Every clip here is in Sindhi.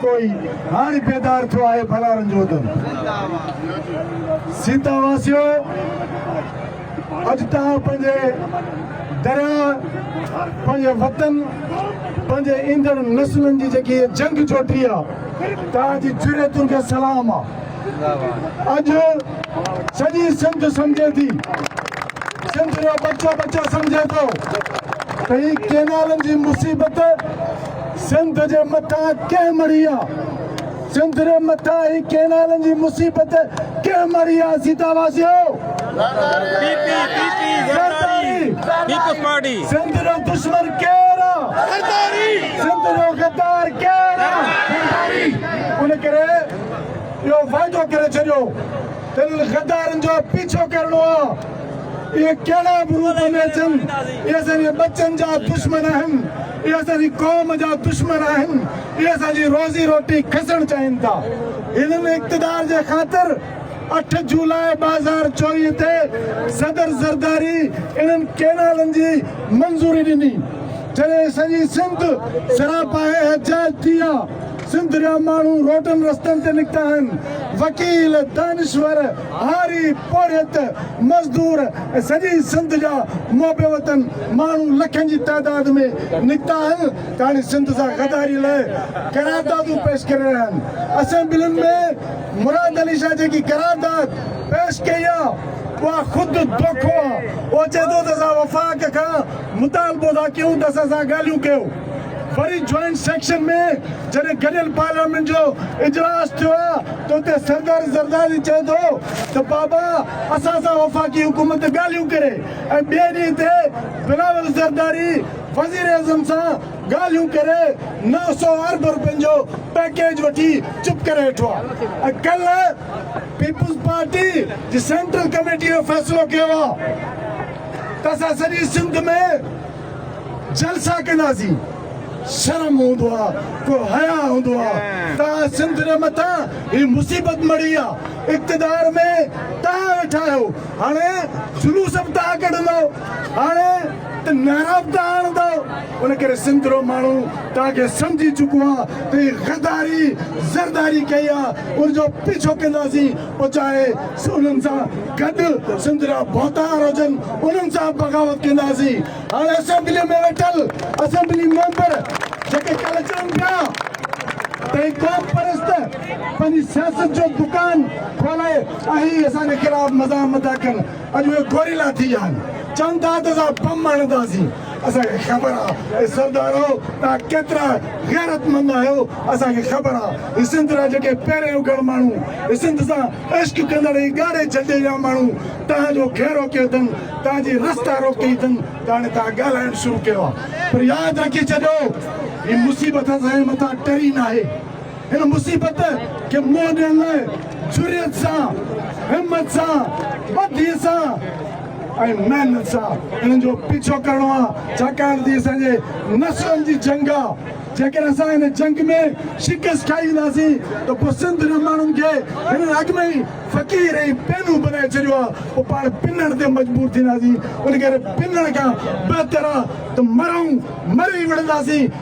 ڪوئي هاڻي بيدار ٿيو آهي ڀلارن جو ادم سيتا واسيو اڄ توهان پنهنجي درياء پنهنجي وطن پنهنجي ايندڙ نسلن جي جيڪي جنگ جوٽي آهي توهان جي جرئتن کي سلام آهي اڄ سڄي سنڌ سمجهي ٿي سنڌ جو بچو بچو سمجهي ٿو ته هي ڪينالن جي مصيبت سنڌ جي مٿان ڪنهن مڙهي آ؟ سنڌ ري مٿان هي ڪينالن جي مصيبت ڪنهن مڙهي آ؟ سيتا واسيو! زرداري! سنڌ رو دشمن ڪير آ؟ سنڌ رو غدار ڪير آ؟ زرداري! ان ڪري اهو وعدو ڪري ڇڏيو ته انهن غدارن جو پيڇو ڪرڻو آ. اهي ڪهڙا به روپ ۾ اچن، اهي اسان جي ٻچن جا دشمن آهن. اهي اسان جي قوم جا دشمن آهن، اهي اسان جي روزي روٽي کسڻ چاهين ٿا، هنن اقتدار جي خاطر اٺ جولاء ٻه هزار چوويهه تي صدر زرداري انهن ڪينالن جي منظوري ڏني جڏهن سڄي سنڌ سراپا احتجاج ٿي ها، سنڌ جا ماڻهو روڊن رستن تي نڪتا آهن، وڪيل، دانشور. هاري، پورهيت، مزدور ۽ سڄي سنڌ جا محب وطن ماڻهو لکن جي تعداد ۾ نڪتا آهن ته هاڻي سنڌ سان غداري لاء قراردادون پيش ڪري رهيا آهن. اسيمبلين ۾ مراد علي شاهه جيڪي قرارداد پيش ڪئي آهي اها خود دوکو آهي. اهو چئي ٿو ته اسان وفاق کان مطالبو ٿا ڪيون ته اسان سان ڳالهيون ڪيو. وري جوائنٽ سيڪشن ۾ جڏهن گڏيل پارليامينٽ جو اجلاس ٿيو آهي ته اتي سردار زرداري چئي ٿو ته بابا اسان سان وفاقي حڪومت ڳالهيون ڪري ۽ ٻئي ڏينهن تي بلاول زرداري وزيراعظم سان ڳالهيون ڪري نو سؤ ارب روپين جو پيڪيج وٺي چپ ڪري ويٺو آهي ۽ ڪلهه پيپلزپارٽي جي سينٽرل ڪميٽي اهو فيصلو ڪيو آهي ته اسان سڄي سنڌ ۾ جلسا ڪندا سين شرم هوندو آ ڪو حيا هوندو آ توهان سنڌ ري مٿان هي مصيبت مڙهي آ اقتدار ۾ توهان ويٺا آهيو هاڻي جلوس به توهان ڪڍندا هاڻي ته نعرا به توهان هڻندا ان ڪري سنڌ رو ماڻهو توهان کي سمجهي چڪو آ ته هي غداري زرداري ڪئي آ ان جو پيڇو ڪندا سين پچائي انهن سان گڏ سنڌ جا ڀوتار هجن انهن سان بغاوت ڪنداسين هاڻي اسيمبلي ۾ ويٺل اسيمبلي ميمبر جيڪي ڪل چون پيا ته قوم پرست پنهنجي سياست جو دڪان کولي ۽ اسان جي خلاف مزاحمت ٿا ڪن اڄ اهي گوريلا ٿي ويا آهن چون ٿا ته اسان بم هڻنداسين اسان کي خبر آ اي سردارو توهان ڪيترا غيرتمند آهيو اسان کي خبر آ هي سنڌ را جيڪي پيرين اگهڙ ماڻهو هي سنڌ سان عشق ڪندڙ هي ڳاڙهي جهنڊي جا ماڻهو توهان جو کي روڪيو اٿن توهان جي رستا روڪي اٿن ته هاڻي توهان ڳالهائڻ شروع ڪيو آ پر ياد رکي ڇڏيو هي مصيبت اسان جي مٿان ٽري ناهي هن مصيبت کي منهن ڏيڻ لاء جرئت سان همت سان بدي سان ۽ محنت سان انهن جو پيڇو ڪرڻو آهي ڇاڪاڻ ته هي اسان جي نسلن جي جنگ آهي جيڪڏهن اسان هن جنگ ۾ شڪست کائي وينداسين ته پوء سنڌ جي ماڻهن کي هنن اڳ ۾ ئي فقير ۽ پينو بنائي ڇڏيو آهي پوء پاڻ پنڻ تي مجبور ٿينداسين ان ڪري پنڻ کان بهتر آهي ته مرئون مري ئي وڙهنداسين.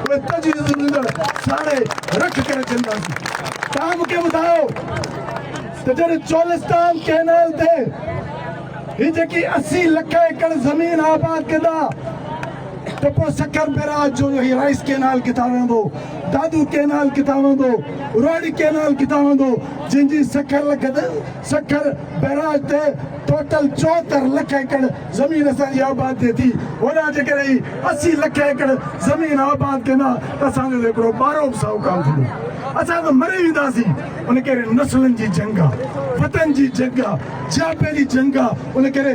اهي تجويزون ڏيندڙ ساڻي رک ڪري ڇڏينداسين. توهان مون کي ٻڌايو ته جڏهن چولستان ڪئنال تي هي جيڪي اسي لک ايڪڙ زمين آباد ڪندا ته پوء سکر بيراج جو هي رائيس ڪئنال ڪٿان وهندو، دادو ڪئنال ڪٿان وهندو، روهڙي ڪئنال ڪٿان وهندو جنهن جي سکر لڳت سکر بئراج تي ٽوٽل چوهتر لک ايڪڙ زمين اسان جي آباد ٿئي ٿي هوڏانهن جيڪڏهن هي اسي لک ايڪڙ زمين آباد ٿين ها ته اسان جو ته هڪڙو ٻارو به سائو ڪانه ٿيندو اسان ته مري وينداسين ان ڪري نسلن جي جنگ آ وطن جي جنگ آ جياپي جي جنگ آ ان ڪري